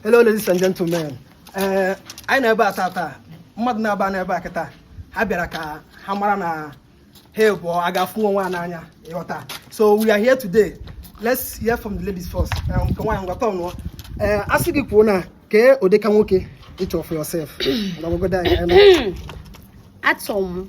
Hello ladies and gentlemen. Ee, eh, anyị nọ ebe a taa taa mmadụ naabọ nọ ebe a kịta ha bịara ka ha mara na ha abụọ ga-afụ onwe ha n'anya ị ghọta so we are here today let's hear from the ladies first eh, nke nwaanyị ngwata ọnụọ ee eh, a sị gị kwuo na kee ụdịka nwoke ị chọ for yourself achọ m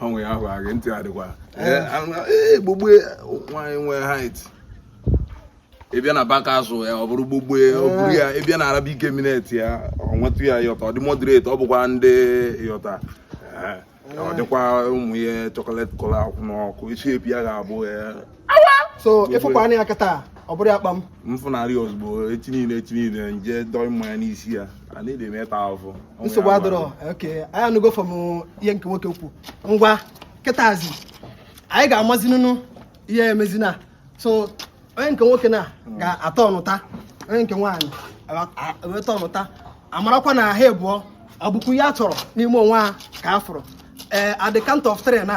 ọnwụ ya ahụ agị ntị adịkwa gbogbo nwaanyị nwee height ị bịa na baka azụ ya ọ bụrụ gbogbo ọ bụrụ ya ị bịa na Arabic eminent ya ọ nwetụ ya yọta ọ dị moderate ọ bụkwa ndị yọta ọ dịkwa ụmụ ihe chocolate colour akwụ n'ọkụ shape ya ga-abụ so ị fụkwa anya kịta ọ bụrụ ya kpam mfụnarị ozugbo echi niile echi niile m je dọọ mmanya n'isi ya a na-ede m ịta ahụhụ nsogbu adịrọ okay anyị anụgo from ihe nke nwoke kwu ngwa kịtazi anyị ga-amazi nụnụ ihe emezi na so onye nke nwoke na ga-atọ ọnụta onye nke nwaanyị eweta ọnụta a marakwa na ha ebụọ ọ bụkwa ihe ha chọrọ n'ime onwe ha ka ha fụrụ ee eh, at the count of three na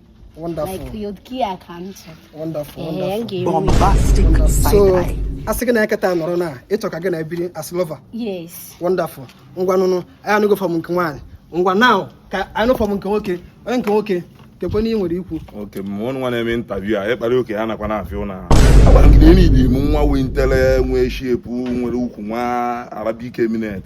Wonderful. Like you kia kancha. Wonderful. Wonderful. Bombastic wonderful. So, a sị gị na eketa nọrọ na ị chọ ka gị na ya biri as lover. Yes. Wonderful. Ngwa nụnụ, anyị anụgo from nke nwaanyị. Ngwa now ka anyị nụ from nke nwoke. Onye nke nwoke keekwanụ ihe i nwere ikwu. Okay, ma ọnụ nwa na-eme interview a, ịkpara oke ya nakwa na-afịa ụlọ ahụ. Agwara m gị na e nye m nwa nwee ntele nwee shape nwere ukwu nwee Arabic eminent.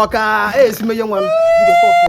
ọ ka esi menye nwa m